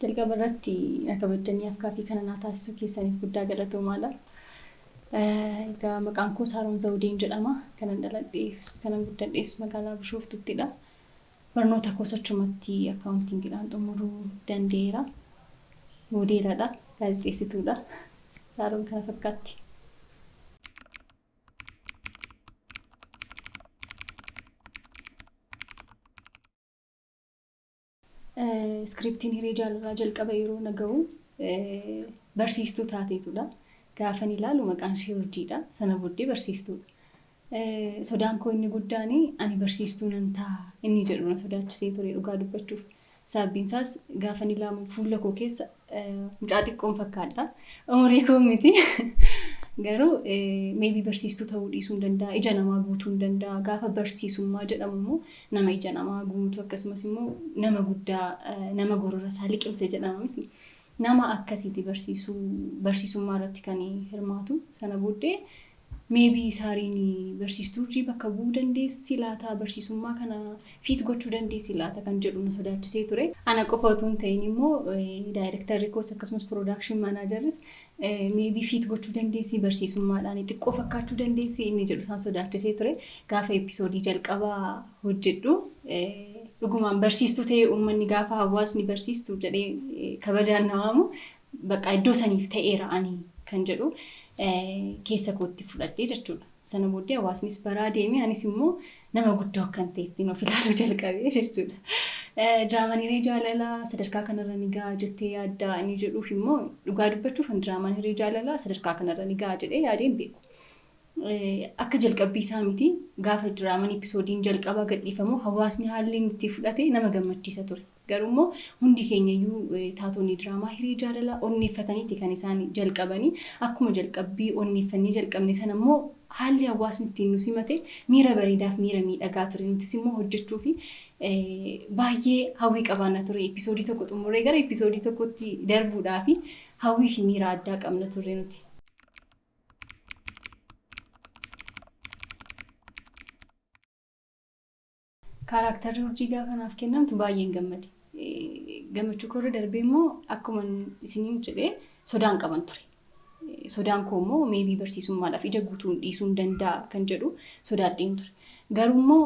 Jalqaba irratti na kabajjanii afgaaffii kana naa taasisuu keessaniif guddaa galatoomaa dha. Egaa maqaan koo Saaroon Zawudeen jedhama. Kanan dhaladheefis kanan guddadhees magaalaa Bishooftuutti dha. Barnoota koos achumatti akkaawuntiingidhaan xumuruu danda'eera. Moodeela dha, gaazexeessituu dha. Saaroon kana fakkaatti. Iskiriptiin hiree jaalalaa jalqaba yeroo na ga'u barsiistuu taateetudha. Gaafan ilaalu maqaan ishee urjiidha. Sana booddee barsiistuudha. Sodaan koo inni guddaan ani barsiistuu nan ta'a inni jedhu na sodaachisee ture dhugaa dubbachuuf. Sababiin isaas gaafan ilaamu fuula koo keessa Mucaa xiqqoon fakkaadha. Umurii koo miti. Garuu meebii barsiistuu ta'uu dhiisuu hin danda'a. Ija namaa guutuu hin danda'a. Gaafa barsiisummaa jedhamu immoo nama ija namaa guutu akkasumas immoo nama guddaa nama gorora isaa liqimse jedhama miti. Nama akkasiiti barsiisuu barsiisummaa irratti kan hirmaatu. Sana booddee Maybe Saariin barsiistuu urjii bakka bu'uu dandeessi laata? Barsiisummaa kana fit gochuu dandeessi laata? kan jedhu na sodaachisee ture. Ana qofa utuu hin ta'in immoo daayirektarri koos akkasumas production managerris maybe fit gochuu dandeessi barsiisummaadhaan xiqqoo fakkaachuu dandeessi inni jedhu isaan sodaachisee ture. Gaafa episoodii jalqabaa hojjedhu dhugumaan barsiistuu ta'ee uummanni gaafa hawaasni barsiistuu jedhee kabajaan na waamu Baqaa iddoo saniif ta'eera ani kan jedhu keessa kootti fudhadhee jechuudha. Sana booddee hawaasnis baraa deemee anis immoo nama guddoo akkan ta'ettiin of ilaaluu jalqabee jechuudha. Diraamaan hiree jaalalaa sadarkaa kanarra ni ga'a jettee yaaddaa inni jedhuuf immoo dhugaa dubbachuuf an diraamaan hiree jaalalaa sadarkaa kanarra ni ga'a jedhee yaadee hin beeku. Akka jalqabbii isaa miti gaafa diraamaan episoodiin jalqabaa gadhiifamu hawaasni haalli inni itti fudhate nama gammachiisa ture. Garuu immoo hundi keenya iyyuu taatonni diraamaa Hiree Jaalalaa onneeffataniiti kan isaan jalqabani. Akkuma jalqabbii onneeffannee jalqabne sana immoo haalli hawaasni ittiin nu simate miira bareedaa fi miira miidhagaa ture. Nutis immoo hojjechuuf baay'ee hawwii qabaanna ture. Episoodii tokko xumurree gara episoodii tokkotti darbuudhaaf hawwii fi miira addaa qabna turre nuti. Kaaraaktarri urjii gaafa naaf kennamtu baay'een gammade. Gammachuu koorra darbee immoo akkuma isiniin jedhee sodaan qaban ture. Sodaan koo immoo meebii barsiisummaadhaaf ija guutuun dhiisuun danda'a kan jedhu sodaadheen ture. Garuu immoo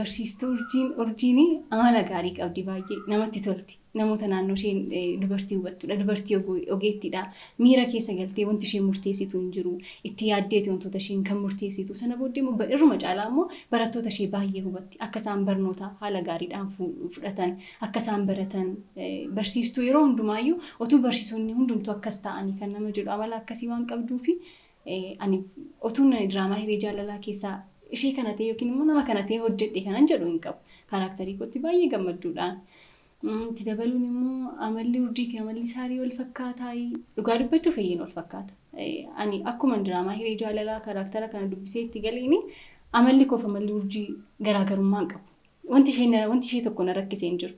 barsiistuu urjiin urjiin amala gaarii qabdi baay'ee namatti tolti. namoota naannoo ishee dubartii hubattudha, dubartii ogeettiidha, miira keessa galtee wanti isheen murteessitu hin jiru, itti yaaddeeti wantoota isheen kan murteessitu, sana booddee immoo irruma caalaa immoo barattoota ishee baay'ee hubatti, akka isaan barnoota haala gaariidhaan fudhatan, akka isaan baratan, barsiistuu yeroo hundumaayyuu otuu barsiisonni hundumtuu akkas ta'anii kan nama jedhu amala akkasii waan qabduufi ani otuun diraamaa hiree jaalalaa keessaa ishee kana ta'e yookiin immoo nama kana ta'e hojjedhe kanan jedhu hin qabu. Kaaraaktarii kootti baay'ee gammadduudha. Itti dabaluun immoo amalli urjii fi amalli saarii wal fakkaataa dhugaa dubbachuu fayyeen wal fakkaata. Ani akkuma diraamaa hiree jaalalaa kaaraaktara kana dubbisee itti galeeni amalli koof amalli urjii garaagarummaa hin qabu. Wanti ishee tokko na rakkisee hin jiru.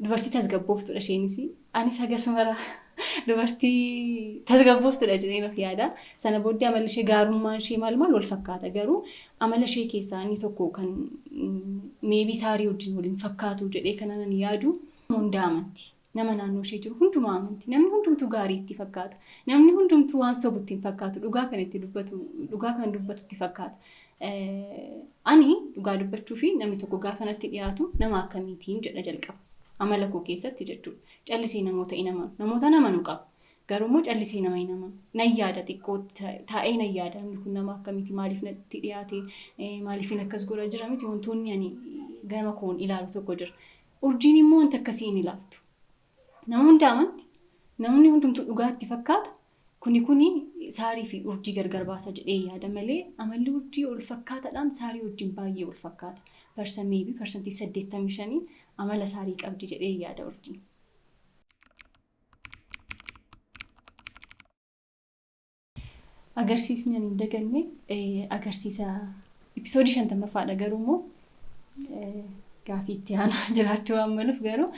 Dubartii tasgabbooftudha isheenis. Anis hagas mara dubartii tasgabbooftudha jedheen of yaada. Sana booddee amalli ishee gaarummaan ishee maal maal wal fakkaata garuu amala ishee keessaa inni tokko kan meebii saarii wajjin waliin fakkaatu jedhee kan ani yaadu hundaa amanti. Nama naannoo ishee jiru hundumaa amanti. Namni hundumtuu gaarii itti fakkaata. Namni hundumtuu waan sobu itti hin fakkaatu. Dhugaa kan itti dubbatu, dhugaa kan dubbatu itti fakkaata. Ani dhugaa dubbachuu fi namni tokko gaafa natti dhiyaatu nama akkamiitiin jedha jalqaba. Amala koo keessatti jechuudha. Callisee namoota hin amanu. Namoota hin amanu qaba. Garuu immoo callisee nama hin amanu. Nan yaada xiqqoo taa'ee nan yaada namni kun nama akkamiiti maaliif natti dhiyaate maaliifin akkas godha jira miti wantoonni ani gama koon ilaalu tokko jira. Urjiin immoo wanta akkasii hin ilaaltu. Nama hunda amanti. Namni hundumtuu dhugaatti fakkaata. Kuni kuni saarii fi urjii gargar baasa jedhee yaada malee amalli urjii wal fakkaatadhaan saarii wajjin baay'ee wal fakkaata. Persa maybe persantii 85 amala saarii qabdi jedhee yaada urjiin. Agarsiisni ani hin daganne agarsiisa episoodii 50ffaadha garuu immoo gaafii itti aanaa jiraachuu waan maluuf garuu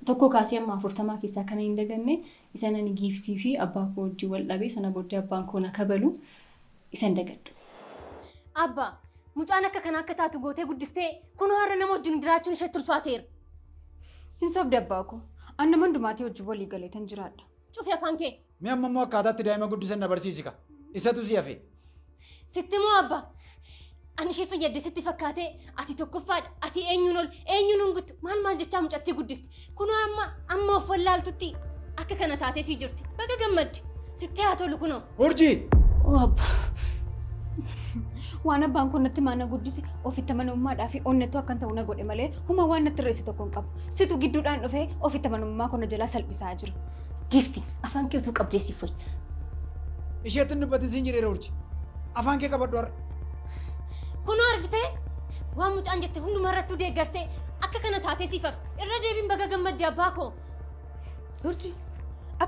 1 kaasee amma 40 keessaa kanan hin daganne isan ani giiftii fi abbaa koo wajjin wal dhabe sana booddee abbaan koo na kabalu isan dagadhu. Abba, mucaan akka kanaa akka taatu gootee guddistee kunoo har'a nama wajjin jiraachuun isheetti ulfaateera. Hin sobde abbaa koo. An nama hundumaatii wajjin walii galeetan jiraadha. Cufi afaan kee! Mee amma immoo akkaataa itti daa'ima guddisan na barsiisi ka. Isatu si hafe. Sitti moo abba? Ani ishee fayyadde sitti fakkaatee ati tokkoffaadha ati eenyuun ol eenyuun hin guttu maal maal jechaa mucattii guddiste kunoo amma amma of wallaaltutti akka kana taatee sii jirti baga gammadde sitti haa tolu kunoo. Urjii! Oo abba. Waan abbaan kun natti maana guddise ofitti amanamummaadhaa fi onnettuu akkan ta'u na godhe malee huma waan natti reesse tokko hin qabu. Situ gidduudhaan dhufee ofitti amanamummaa koo na jalaa salphisaa jira. Giifti afaan kee utuu qabdee siif wayya. Isheetti hin dubbatin siin jedheera urji. Afaan kee qabadhu har'a. Kunoo argitee waan mucaan jette hundumaa irrattuu deeggartee akka kana taatee siif hafte irra deebiin baga gammadde abbaa koo. Urji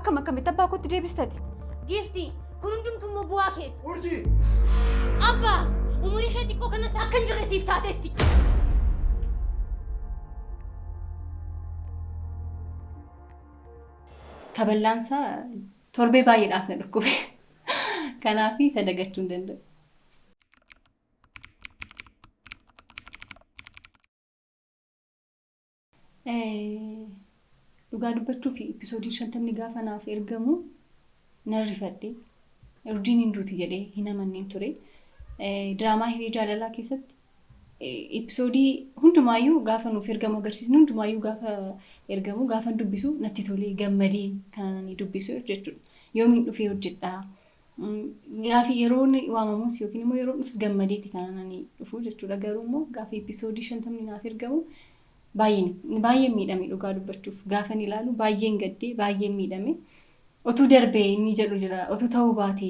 akkam akkamitti abbaa kootti deebistati? Giifti kun hundumtuu immoo bu'aa keeti. Urji! Abbaa umurii ishee xiqqoo kanatti akka hin jirre siif taateetti. Kaballaan isaa torbee baay'eedhaaf na dhukkube. Kanaaf isa dagachuu hin danda'u. Dhugaa dubbachuuf episoodiin shantamni gaafa naaf ergamu nan rifadhe. Urjiin hin duuti jedhee hin amanneen ture. Diraamaa hiree jaalalaa keessatti Episoodii hundumaayyuu gaafa nuuf ergamu agarsiisni hundumaayyuu gaafa ergamu gaafan dubbisu natti tolee gammadee kan ani dubbisu jechuudha. Yoomiin dhufee hojjedha. Gaafi yeroon waamamus yookiin immoo yeroon dhufus gammadeeti kan ani dhufu jechuudha. Garuu immoo gaafa episoodii shantamni naaf ergamu baay'een miidhame dhugaa dubbachuuf gaafan ilaalu baay'een gaddee baay'een miidhame. Otuu darbee inni jedhu jira. Otuu ta'uu baate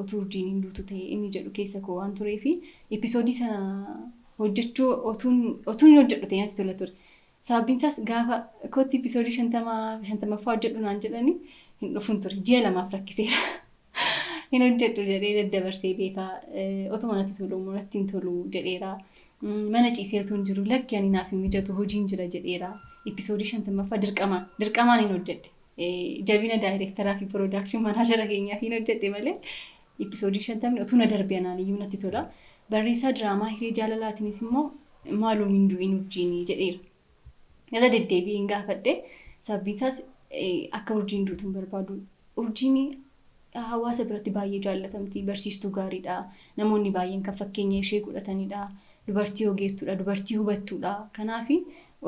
otuu urjiin hin duutu ta'e inni jedhu keessa koo waan turee fi episoodii sana hojjechuu otuun otuun hin hojjedhu ta'e natti tola ture. Sababiin isaas gaafa kootti episoodii shantama shantamaffaa hojjedhu naan jedhani hin dhufun ture. Ji'a lamaaf rakkiseera. hin hojjedhu jedhee daddabarsee beeka. Otuma natti tolu immoo natti hin tolu jedheera. Mana ciisee utuu hin jiru lakki ani naaf hin mijatu hojiin jira jedheera. Episoodii shantammaffaa dirqamaan dirqamaan hin hojjedhe. Jabina daayireektaraa fi piroodaakshii manaajara keenyaaf hin hojjedhe malee episoodii shantamni utuu na darbe anaan iyyuu natti tola. Barreessaa diraamaa hiree jaalalaatiinis immoo maaloo hin du'in urjiinii jedheera. irra deddeebi'een gaafadhe. Sababbiin isaas akka urjiin duutu hin barbaadu. Urjiin hawaasa biratti baay'ee jaallatamti. Barsiistuu gaariidha. Namoonni baay'een kan fakkeenya ishee godhatanidha. Dubartii ogeettuudha. Dubartii hubattuudha. Kanaaf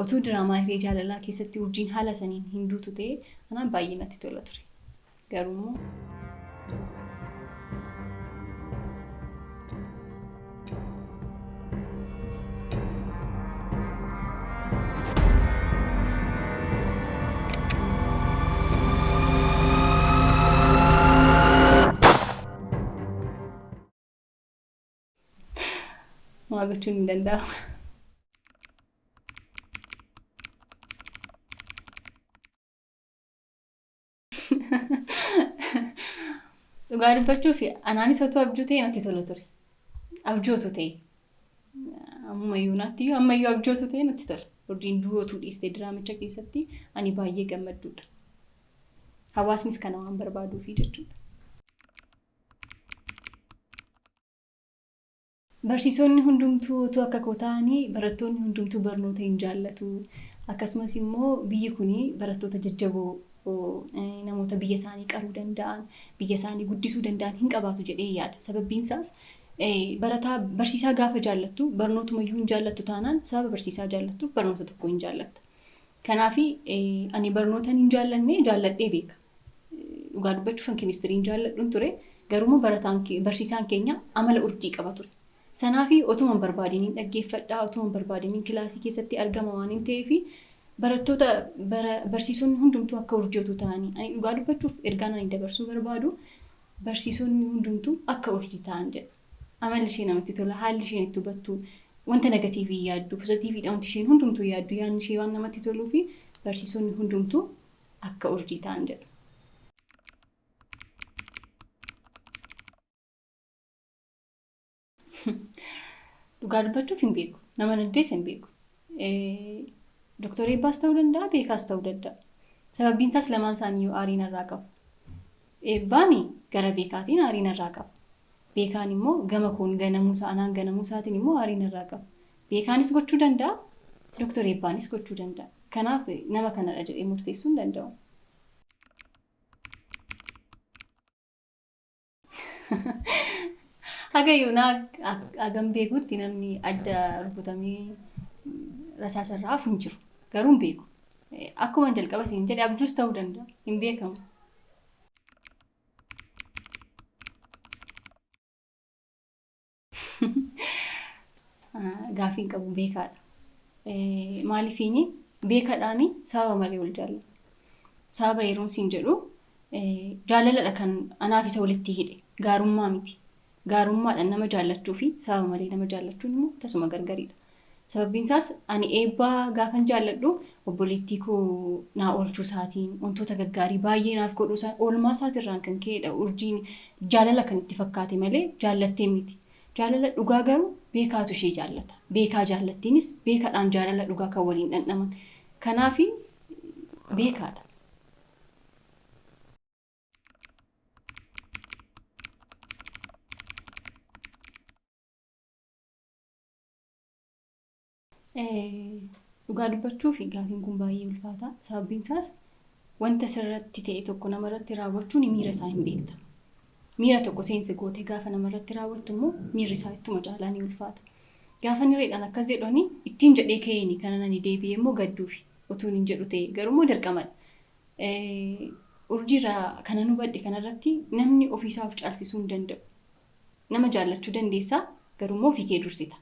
otuu diraamaa hiree jaalalaa keessatti urjiin haala saniin hin duutu ta'ee anaan baay'ee natti tola ture. Garuu waa gochuun hin danda'amu. Dhugaa dubbachuuf anaanis otoo abjuu ta'e natti tola ture. Abjootu ta'e. Ammayyuu naatti iyyuu ammayyuu abjootu ta'e natti tola. Urjiin du'ootu dhiiste diraamicha keessatti ani baay'ee gammadduudha. Hawaasnis kana waan barbaaduufi jechuudha. Barsiisonni hundumtuu utuu akka koo ta'anii barattoonni hundumtuu barnoota hin jaallatu. Akkasumas immoo biyyi kun barattoota jajjaboo, namoota biyya isaanii qaruu danda'an, biyya isaanii guddisuu danda'an hin qabaatu jedheen yaada. Sababbiin isaas barataa barsiisaa gaafa jaallattu barnootuma iyyuu hin jaallattu taanaan sababa barsiisaa jaallattuuf barnoota tokko hin jaallatta. Kanaaf ani barnootan hin jaallanne jaalladhee beeka. Dhugaa dubbachuufan keemistiriin jaalladhun ture. Garuummoo barataan barsiisaan keenya amala urjii qaba ture. Sanaafi otuman barbaadeen hin dhaggeeffadha, otuman barbaadeen hin kilaasii keessatti argama waan hin ta'eefi barattoota bara barsiisonni hundumtuu akka urjii otuu ta'anii ani dhugaa dubbachuuf ergaan ani dabarsuu barbaadu barsiisonni hundumtuu akka urjii ta'an jedha. Amalli ishee namatti tola, haalli isheen itti hubattu, wanta negatiivii hin yaaddu, pozatiiviidha wanti isheen hundumtuu yaaddu, yaadni ishee waan namatti toluufi barsiisonni hundumtuu akka urjii ta'an jedhu. Dhugaa dubbachuuf hin beeku. Nama naddees hin beeku. Doktor Eebbaas ta'uu danda'a, beekaas ta'uu danda'a. Sababbiin isaas lamaan isaanii yoo aarii narraa qabu. Eebbaan gara Beekaatiin aarii narraa qaba. Beekaan immoo gama koon ganamuu isaa, anaan ganamuu isaatiin immoo aarii narraa qaba. Beekaanis gochuu danda'a, Doktar Eebbaanis gochuu danda'a. Kanaaf nama kanadha jedhee murteessuu hin danda'u. Haga yoonaa hagam beekutti namni adda rukutamee rasaasa irraa hafu hin jiru. Garuu hin beeku. Akkuma jalqaba siin jedhe abjuus ta'uu danda'a. Hin beekamu. Gaafii hin qabu beekaadha. Maaliifiin beekaadhaan sababa malee wal jaalladha. Sababa yeroon siin jedhu jaalaladha kan anaaf isa walitti hidhe gaarummaa miti. Gaarummaadhaan nama jaallachuu fi sababa malee nama jaallachuun immoo tasuma gargari dha. Sababbiin isaas ani eebba gaafan jaalladhu obboleettii koo naa oolchuu isaatiin, wantoota gaggaarii baay'ee naaf godhuu isaatiin, oolmaa isaati irraan kan ka'ee dha urjiin jaalala kan itti fakkaate malee jaallattee miti. Jaalala dhugaa garuu beekaatu ishee jaallata. Beekaa jaallattiinis beeka dhaan jaalala dhugaa kan waliin dhandhaman. Kanaafi beekaa dha. Dhugaa dubbachuuf gaafiin kun baay'ee ulfaata. Sababiin isaas wanta sirratti ta'e tokko namarratti raawwachuun miira isaa hin beekta. Miira tokko seensi gootee gaafa namarratti raawwattu immoo miirri isaa ittuma caalaa ni ulfaata. Gaafa nireedhaan akkas jedhani ittiin jedhee ka'eeni kana nani deebi'ee immoo gadduufi otuun hin jedhu ta'e garuu immoo dirqamadha. Urjii irraa kanan hubadhe kana irratti namni ofii isaa of caalsisuu hin danda'u. Nama jaallachuu dandeessa garuu immoo ofii kee dursita.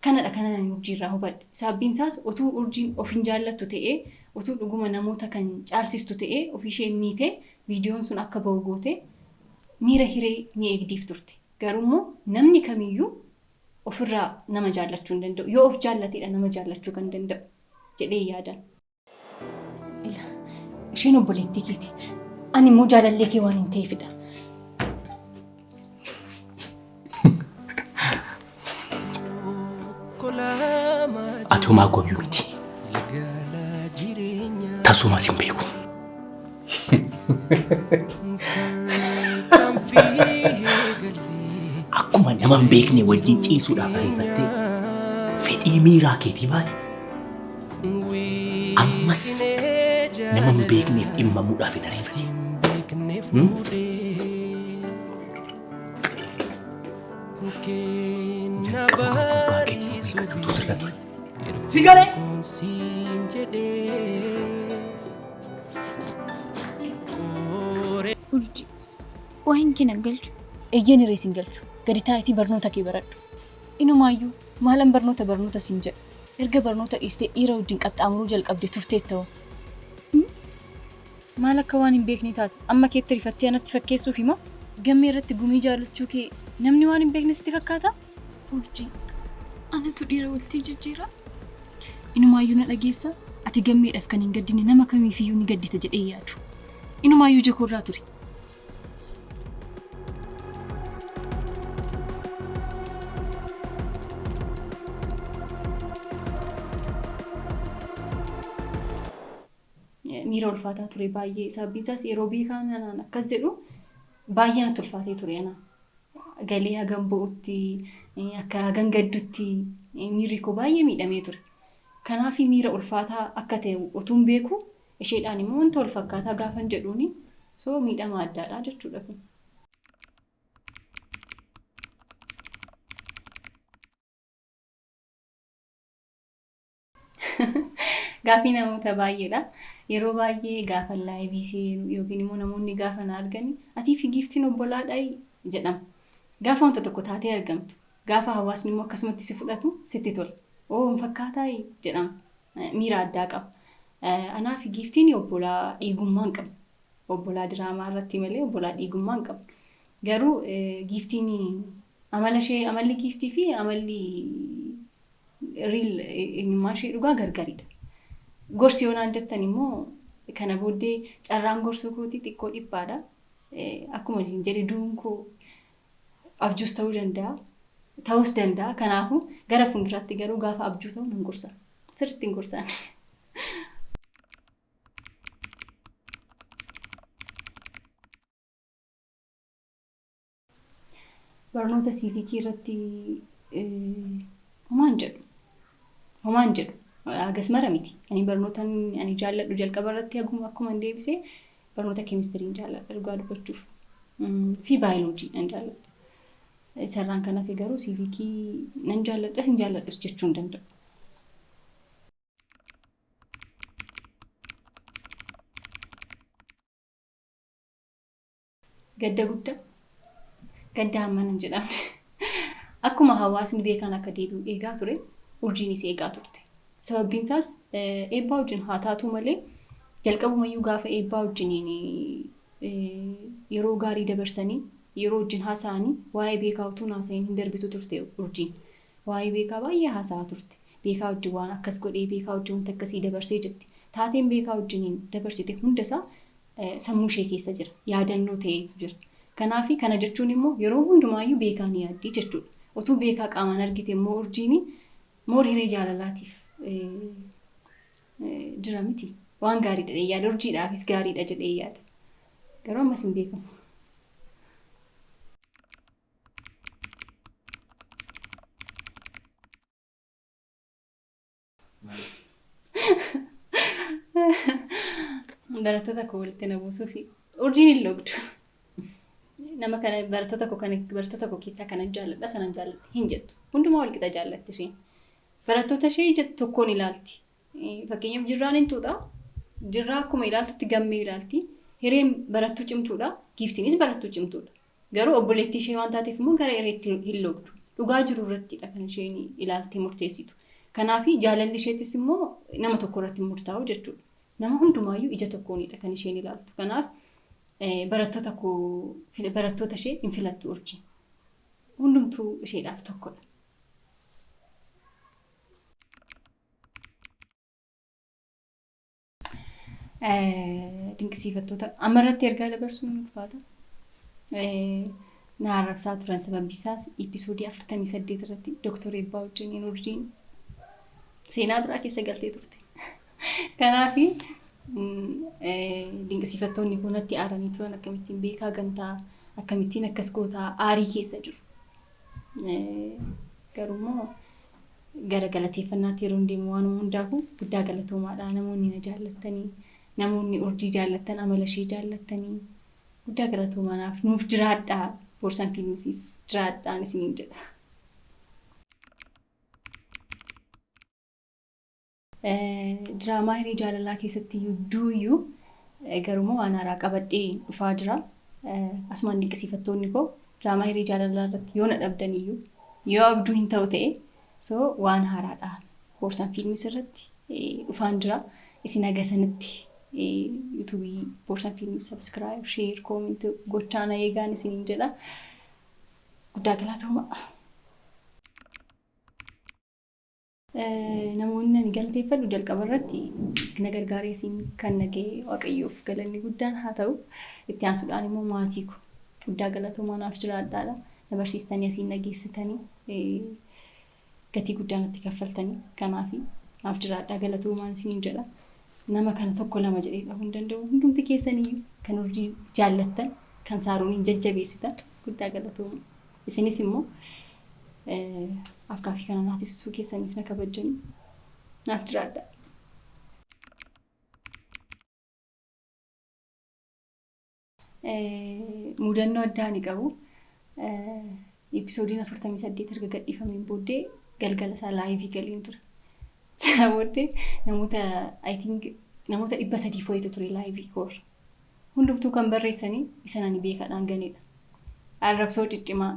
Kanadha kanan ani urjii irraa hubadhe. Sababbiin isaas utuu urjiin of hin jaallattu ta'ee utuu dhuguma namoota kan caalsistu ta'ee ofii ishee miite viidiyoon sun akka ba'u goote miira hiree ni eegdiif turte. Garuu immoo namni kamiyyuu ofirraa nama jaallachuu hin danda'u. Yoo of jaallatedha nama jaallachuu kan danda'u. jedhee yaadan. Ila, isheen obboleettii keeti. Ani immoo jaalallee kee waan hin ta'eefidha. Ati homaa gooyyuu miti. Tasuumaas hin beeku. Akkuma nama hin beekne wajjin ciisuudhaaf ariifattee fedhii miiraa keetii baate ammas nama hin beekneef dhimmamuudhaaf hin ariifate. Sigalee! Urjii. Waa hin kee nan galchu. Eeyyeen hiree sin galchu. Gadi taa'itii barnoota kee baradhu. Inumaayyuu maalan barnoota barnoota sin jedha. Erga barnoota dhiistee dhiira wajjin qaxxaamuruu jalqabde turteetta hoo. Maal akka waan hin beeknee taate amma keetti rifattee anatti fakkeessuufi moo? Gammee irratti gumii jaallachuu kee namni waan hin beekne sitti fakkaataa? Urjii. Anatu dhiira waltii jijjiiraa? Inumaayyuu na dhageessa ati gammeedhaaf kan hin gaddine nama kamiifiyyuu ni gaddita jedhee yaadu. Inumaayyuu ija koorraa ture. miira ulfaataa ture baay'ee. Sababiin isaas yeroo beekaan anaan akkas jedhu baay'ee natti ulfaatee ture anaa. galee hagan bo'utti, akka hagan gaddutti miirri koo baay'ee miidhamee ture. Kanaaf miira ulfaataa akka ta'e otuun beekuu isheedhaan immoo wanta wal fakkaataa gaafan jedhuuni so miidhama addaadha jechuudha kun. Gaafii namoota baay'eedha. Yeroo baay'ee gaafa laayivii seenu yookiin immoo namoonni gaafa na argani atii fi giiftiin obbolaadhayi jedhama. Gaafa wanta tokko taatee argamtu, gaafa hawaasni immoo akkasumatti si fudhatu sitti tola. Oo hin fakkaataayi jedhama. Eh, Miira addaa qaba. Eh, Anaa fi giiftiin obbolaa dhiigummaa hin qabnu. Obbolaa diraamaa irratti malee obbolaa dhiigummaa hin qabnu. Garuu eh, giiftiin amala ishee amalli giiftii fi amalli Riil eenyummaan ishee dhugaa gargaridha. Gorsi yoo naan jettan immoo kana booddee carraan gorsuu kootii xiqqoo dhiphaadha. Akkuma isin jedhe du'uun koo abjuus ta'uu danda'a. Ta'uus danda'a. Kanaafuu gara fuulduraatti garuu gaafa abjuu ta'u nan gorsa. Sirriitti hin gorsaan. Barnoota siivikii irratti homaan jedhu. Homaan jedhu. Agas mara miti. Ani barnoota ani jaalladhu jalqaba irratti akkuma hin deebise barnoota keemistiriin jaalladha dhugaa dubbachuuf. Fi baayoloojii nan jaalladha. Isarraan kan hafe garuu siivikii nan jaalladhas hin jaalladhus jechuu hin danda'u. Gadda gudda gadda hamman hin jedhamne. Akkuma hawaasni beekaan akka deebi'u eegaa ture, urjiinis eegaa turte. Sababbiin isaas eebbaa wajjin haa taatuu malee jalqabumayyuu gaafa eebbaa wajjiniin yeroo gaarii dabarsanii yeroo wajjin haasa'anii waa'ee beekaa utuu hin haasa'in hin darbitu turte urjiin. Waa'ee beekaa baay'ee haasa'aa turte. Beekaa wajjin waan akkas godhee beekaa wajjin wanta akkasii dabarsee jetti. Taateen beekaa wajjiniin dabarsite hundasaa sammuu ishee keessa jira. Yaadannoo ta'eetu jira. Kanaafi kana jechuun immoo yeroo hundumaayyuu beekaa ni yaaddi jechuudha. Otuu beekaa qaamaan argite immoo urjiini more hiree jaalalaatiif jira miti. Waan gaariidha jedhee yaada. Urjiidhaafis gaariidha jedhee yaada. Garuu ammas hin beekamu. Barattoota koo walitti na buusuuf urjiin hin logdu. Nama kana barattoota koo kana barattoota koo keessaa kanan jaalladha sanan jaalladha hin jettu. Hundumaa wal qixa jaallatti isheen. Barattoota ishee ija tokkoon ilaalti. Fakkeenyaaf jirraan hin tuuta. Jirraa akkuma ilaaltutti gammee ilaalti. Hireen barattuu cimtuudha. Giiftiinis barattuu cimtuudha. Garuu obboleettii ishee waan taateef immoo gara ereetti hin loogdu. Dhugaa jiru irrattidha kan isheen ilaaltee murteessitu. Kanaaf jaalalli isheetis immoo nama tokko irratti hin murtaa'u jechuudha. Nama hundumaayyuu ija tokkoonidha kan isheen ilaaltu. Kanaaf barattoota koo barattoota ishee hin filattu urjiin. Hundumtuu isheedhaaf tokkodha. Dinqisiifattoota amma irratti ergaa dabarsuun ulfaata. Na arrabsaa turan sababni isaas episoodii 48 irratti Dooktor Eebbaa wajjin hin urjiin seenaa biraa keessa galtee turte. Kanaaf dinqisiifattoonni kun natti aaranii turan akkamittiin beekaa gantaa akkamittiin akkas gootaa aarii keessa jiru. Garuu immoo Gara galateeffannaatti yeroon deemu waanuma hundaafuu guddaa galatoomaadha. Namoonni na jaallattanii, namoonni Urjii jaallattan, amala ishee jaallattanii guddaa galatoomaa naaf nuuf jiraadhaa. Boorsan Fiilmisiif jiraadhaan isiniin jedha. Diraamaa hiree jaalalaa keessatti duuyu garumoo waan haaraa qabadhee dhufaa jira. Asumaan dinqisiifattoonni koo diraamaa hiree jaalalaa irratti yoo na dhabdan iyyuu yoo abduu hin ta'u ta'e so waan haaraadha. Boorsan fiilmis irratti dhufaan jira. Isin haga sanitti yuutuubii boorsan fiilmis sabiskiraayib, sheer, koominti gochaa na eegaan isiniin jedha. Guddaa galatoomaa. Namoonni ani galateeffadhu jalqaba irratti na gargaaree siin kan na ga'e Waaqayyoof galanni guddaan haa ta'u. Itti aansuudhaan immoo maatii koo guddaa galatoomaa naaf jiraadhaadha. Na barsiistanii asiin na geessitanii eh, gatii guddaa natti kaffaltanii kanaaf naaf jiraadhaa galatoomaan isiniin jedha. Nama kana tokko lama jedhee dhahuu hin danda'u. Hundumti keessanii kan urjii jaallattan kan saarooniin jajjabeessitan guddaa galatoomaa. Isinis immoo afgaaffii kana naa tisisuu keessaniif na kabajjanii naaf jiraadhaa. Mudannoo addaa ani qabu episoodiin 48 erga gadhiifameen booddee galgala isaa laayivii galeen ture. Sana booddee namoota I think namoota dhibba sadii fo'eetu ture laayivii koorra. Hundumtuu kan barreessanii isan ani beekadhaan ganedha. Arrabsoo ciccimaa,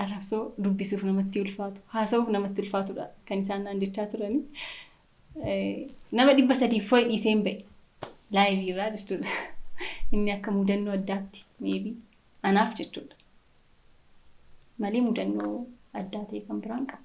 arrabsoo dubbisuuf namatti ulfaatu, haasa'uuf namatti ulfaatudha kan isaan naan jechaa turani. Nama dhibba sadiif fo'i dhiiseen ba'e laayivii irraa jechuudha. Inni akka mudannoo addaatti meebii anaaf jechuudha. Malee mudannoo addaa ta'e kan biraan qabu.